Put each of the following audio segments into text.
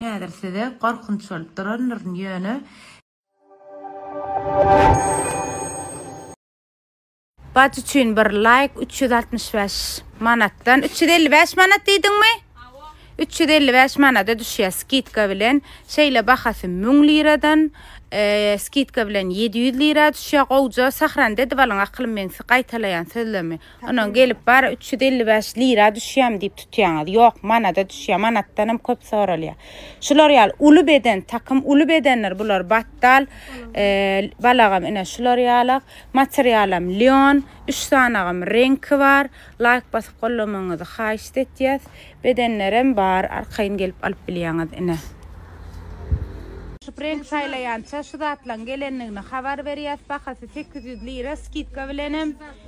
Häzir size gorkunç bolup durandyryn, ýöne. Bajy üçin bir laýk üç ýüz altmyş bäş manatdan üç ýüz elli bäş manat diýdiňmi üç ýüz elli bäş manada düşýär skidka bilen şeýle bahasy müň liradan skidka bilen ýedi ýüz lira düşýär gowja sahran dedi balyň aklym meňsi gaýtalaýan sözlemi Onuň gelip bary üç ýüz elli bäş lira düşýämi diýip tutýaňyz. Ýok, manada düşýär, manatdan hem köp soralýar. Şular ýaly uly beden, takym uly bedendir bular, batdal, balagam ine şular ýaly, materialam lýon, üç sanagam reňki bar. Laýk basyp gollamagyňyzy haýyşt etýäs. Bedenlerem bar, arkaýyn gelip alyp bilýäňiz ine. Reňk saýlaýança şu zatlaryň gelendigini habar berýäs, bahasy sekiz ýüz lira, skidka bilenem.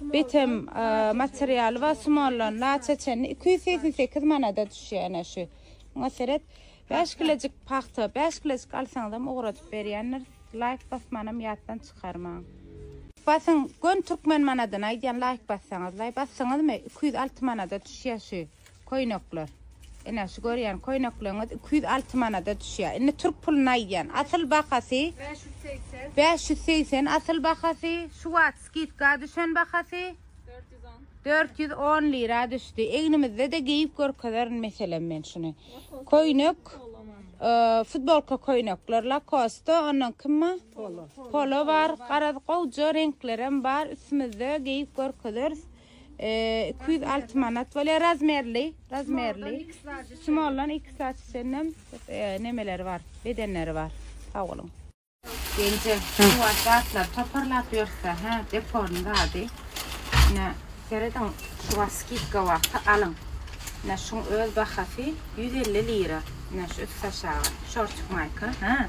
Bitim materialy bar, sumalan laça çenli iki ýüz segsen sekiz manada düşýär ene şu. Muňa seret. Bäş kilojik pagta, bäş kilojik alsaňyzam ugradyp berýändiris. Laýk basmanam ýatdan çykarmaň. Basyň, göni türkmen manadyny aýdýan laýk bassaňyzlaý. Basdyňyzmy? Iki ýüz alty manada düşýär şu. Köýnekler. Ine, şu görýän köýnekleňiz iki ýüz alty manada düşýär. Indi türk puluny aýdýan. Asyl bahasy Bäş ýüz segsen. bäş ýüz segsen asyl bahasy, şu wagt skidka düşen bahasy Dört ýüz on. dört ýüz on lira düşdi. Egnimizde-de geýip görkezerin meselem men şuny. Köýnek, e, futbolka köýnekler Lacoste, ondan kim bar? Polo. Polo bar, garaz gowja reňklerem bar, üstümizde geýip görkezeris. iki ýüz alty manat bolýar razmerli razmerli smollan iki saç içinden nemeleri bar bedenleri bar sag boluň Genje, bu aşatlar toparlap ýörse, hä, deporny zady. Ine, serediň, şu wagt skidka wagty alyň. Ine, şuň öz bahasy 150 lira. Ine, şu üst aşagy, şortik maýka, hä.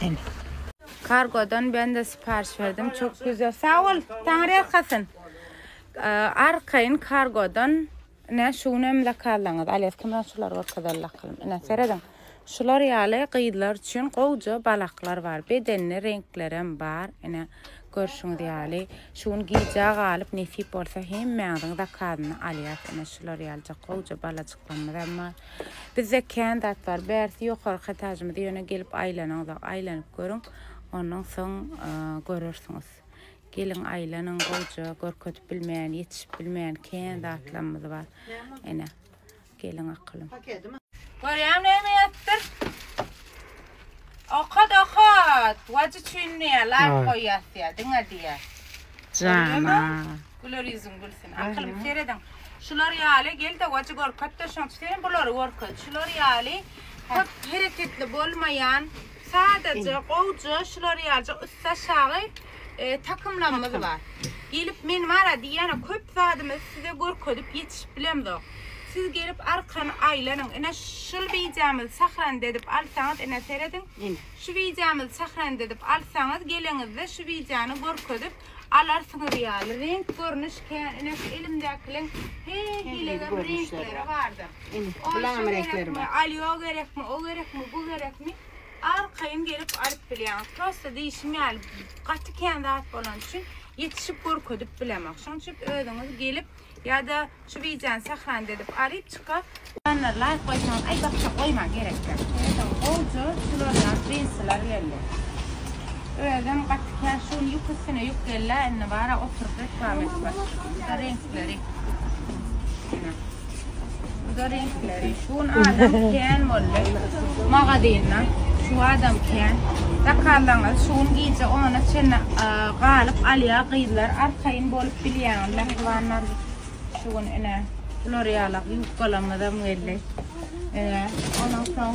Ene. Kargodan ben de sipariş verdim. Çok güzel. Sağ ol. Taňry ýalkasyn. Arkaýyn kargodan ne şu gün hem zakazlaňyz. Alýas kimden şular görkezeli akylym. Ine serediň. Şular ýaly gyzlar üçin gowja balaklar bar. Bedenli reňkler hem bar. Ine görşüňiz ýaly. Şu gün gijä galyp nesip bolsa hemmäňiziň zakazyny alýas. Ine şular ýalyjak gowja balajyklarymyz hem bar. Bizde kän zat bar. Bärsi ýokarky etajymyz ýöne gelip aýlanyňyzok. Aýlanyp görüň. Ondan soň görersiňiz. Geliň aýlanyň gowja görkezip bilmeýän, ýetişip bilmeýän kän zatlarymyz bar. Ene. Geliň akylym. Görýäň näme ýatypdyr? Okat okat. Wajy çün diýä laýk goýýas diýä diňe diýä. Jana. Güler ýüzüň gülsün. Akylymy serediň. Şular ýaly gelde wajy görkezde şoňçy sen bulary görkez. Şular ýaly köp hereketli bolmaýan sadaja gowja şular ýalyja ussa şagy. e, takymlarymyz bar. Gelip men mara diýýän köp zadymy size görkezip ýetişip bilemzok. Siz gelip arkany aýlanyň. Ine şul wideomyzy sahran edip alsaňyz, ine serediň. Şu wideomyzy sahran edip alsaňyz, geleňizde şu wideony görkezip alarsyňyz ýaly. Renk görnüş kän, ine şu elimdäkiliň her hilege renkleri bardyr. Ine, bulam renkleri bar. Alýo gerekmi, o gerekmi, bu gerekmi? Arkaýyn gelip alyp bilýäňiz. Prosta diýşim ýaly, gaty kän zat bolany üçin ýetişip görkezip bilemok. Şonuň üçin özüňiz gelip ýa-da şu wideony sahranda edip alyp çyka. Janlar laýk goýsaňyz aý bakja goýmaň gerekdäl. Eýsem gowja sulanýan džinsiler geldi. Özem gaty kän şuny ýuk üstüne ýuk gelýär indi bara oturyp reklama etmek. Şu da reňkleri. Buda reňkleri. Şu gün adam kän boldy. Magazynda şu adam kän. Zakazlaňyz şu gün gije ona çenli galyp alýar gyzlar. Arkaýyn bolup bilýäňiz mähribanlar. Şu gün ine bular ýalak ýubkalarymyzam geldi. Ine ondan soň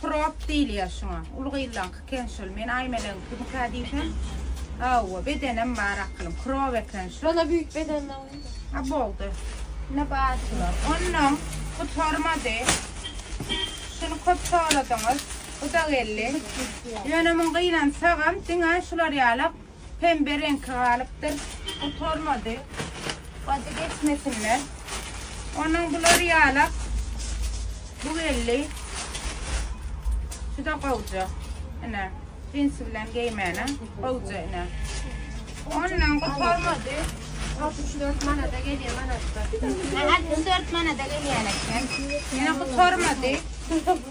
Krop diýilýär şuňa. Uly gyzlaňky eken şol. Men Aýmeleňkimikä diýsem, hawa, bedenem bar akylym. Krop eken şu. Şonda büyük beden alyn. Ha boldy. Ine bar şular. Ondan gutarmady. Şuny köp soradyňyz. Bu da geldi. Ýöne muň gynansagam diňe şular ýalak pembe reňki galypdyr. Gutarmady. Bady geçmesinler. Onuň bular ýalak. Bu geldi. Şuda gowja. Ine. Cinsi bilen geýmäne. Gowja ine. Ondan gutarmady. 64 manada gelýär manatda. 64 manada gelýär eken. Ýene gutarmady.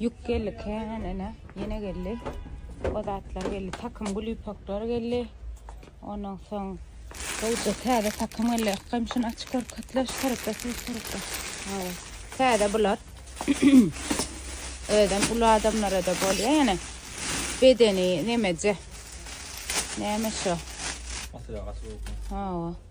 Ýük geldi kän ene. Ýene geldi. O zatlar geldi. Takym gül ýüpekler geldi. Ondan soň Gowşa täze takym geldi. Ykgam şuny açyp görkezdiler. Şu tarapda, şu tarapda. Hawa. Täze bular. Özem uly adamlara da bolýar ýene. Bedeni nemeje. Näme şu? Hawa.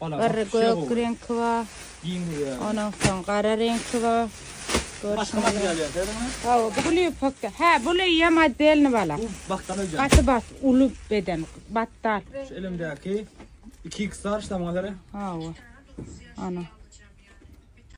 Bir gök reňki bar. Ondan soň gara reňki bar. Başga model ýalyň. Haw, bu gül ýüpekde. Hä, bu ýa modelni bala. Bu batdan öýdýän. Gaty bat, uly beden, batdal. Şu elimdäki 2 x lar ştamgalary. Haw. Ana.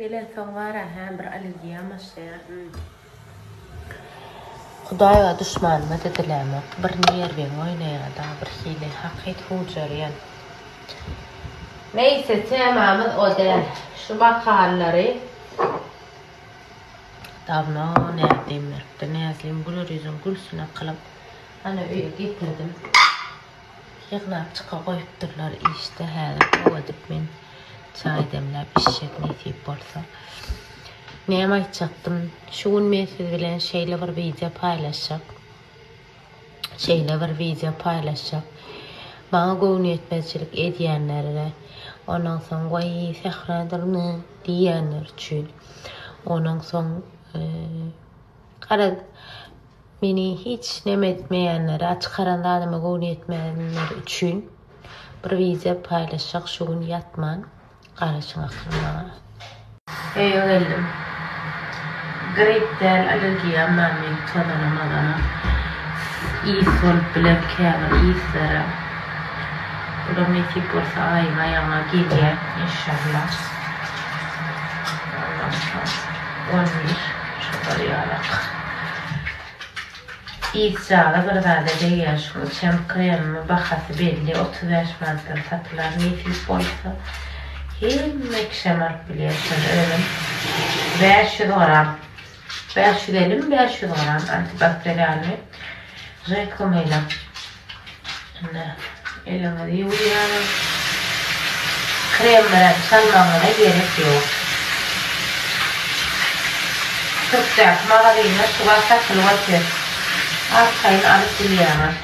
Gelensoň bara hä bir allergiýam başlaýar. Hudaýa duşmanyma didilämok. Bir nerwiň oýnaýada bir hili hakyt hujarýan. Neýse temamyz o däl. Şu makalary dawno Näzlim beripdi. Näzlim güler ýüzüň gülsün akylam. Ana öýe getirdim. Ýygnap çyka goýupdyrlar işde häzir gowadyp men çaý demläp içjek nesip bolsa. Näme aýtjakdym şu gün men siz bilen şeýle bir wideo paýlaşjak şeýle bir wideo paýlaşjak maňa göwnüýetmezçilik edýänler we onuň soň waý sähra durny diýýänler üçin onuň soň garaz Meni hiç neme etmeýänlere çykaran zadyma göwni ýetmeýänler üçin bir wideo paýlaşjak şu gün ýatman garaşyň akyl maňa. Öýe geldim. Grip däl allergiýam bar mende tozana mozana. Ys bolup biler käbir yslary. Olar nesip bolsa aýyň aýagyna gelýär enşalla. Ondan soň on bir. Şular ýalak. Yzjala bir zada degýär şu içen kremimi bahasy belli otuz bäş manatdan satylar nesip bolsa hemme kişem alyp bilýär şony özüm bäş ýüz gram bäş ýüz elli mi bäş ýüz gram antibakterialny reklamyna. Indi eliňizi ýuwýaňyz. Krem bilen çalmagyňyza gerek ýok. Türkdäki magazynda şu bar satylyp otyr. Arkaýyn alyp bilýäňiz.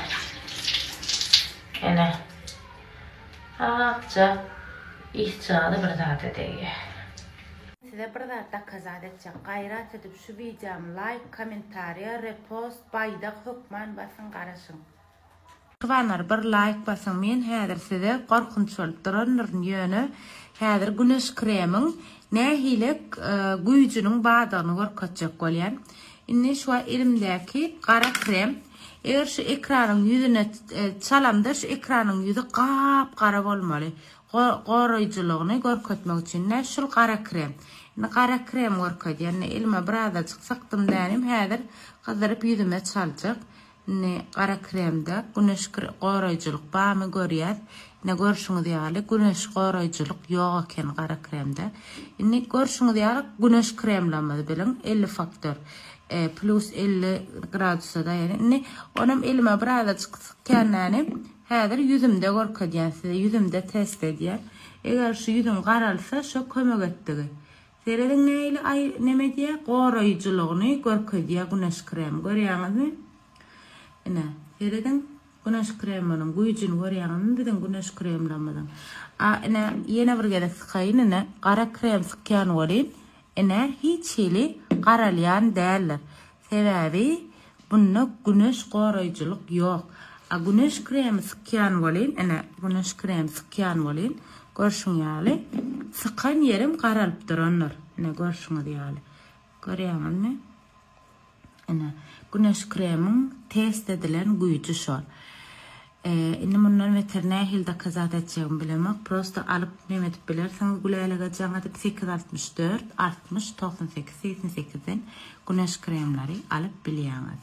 Ene. Akja ysjaly bir zada degýär. Size bir zat dokazat etjek. Gaýrat edip şu wideomy laýk, kommentariýa, repost, Baýdak hökman basyň garaşyň. Kybanlar bir laýk basyň men häzir size gorkunç bolup durandyryn ýöne häzir güneş kremiň nähile güýjüniň bardygyny görkezjek bolýan. Indi şu elimdäki gara krem eger şu ekranyň ýüzüne çalamda şu ekranyň ýüzi gap gara bolmaly Goraýjylygyny görkezmek üçin-de şul gara krem. Indi gara krem görkezýän. Indi elime birazajyk sykdym dänim, häzir gyzdyryp ýüzüme çaljak. Indi gara kremde güneş goraýjylyk barmy görýäs. Ine görşüňiz ýaly güneş goraýjylyk ýok eken gara kremde. Indi görşüňiz ýaly güneş kremlerimizi biliň, elli faktor, plus elli gradusa daýan. Indi onam elime birazajyk sykýan dänim, Häzir ýüzümde görkezýän size ýüzümde test edýän eger şu ýüzüm garalsa şo kömek etdigi serediň nähili aý neme edýä goraýjylygyny görkezýä güneş kremi görýäňizmi ine serediň güneş kreminiň güýjini görýäňizmi biziň güneş kremlerimiziň a ine ýene bir gezek sykaýyn ine gara krem sykýan welin ine hiç hili garalýan däldir Sebäbi bunda güneş goraýjylyk ýok. A güneş kremi sykýan welin, ine, güneş kremi sykýan welin, görşüň ýaly, sykan ýerim garalyp durandyr. Ine, görşüňiz ýaly. Görýäňizmi? Ine, güneş kreminiň test edilen güýji şol. Indi mundan beter nähili dokazat etjegimi bilemok, prosto alyp neme edip bilersiň Gülälege jaň edip sekiz altmyş dört, altmyş, togsan sekiz, segsen sekizden güneş kremlary alyp bilýäňiz.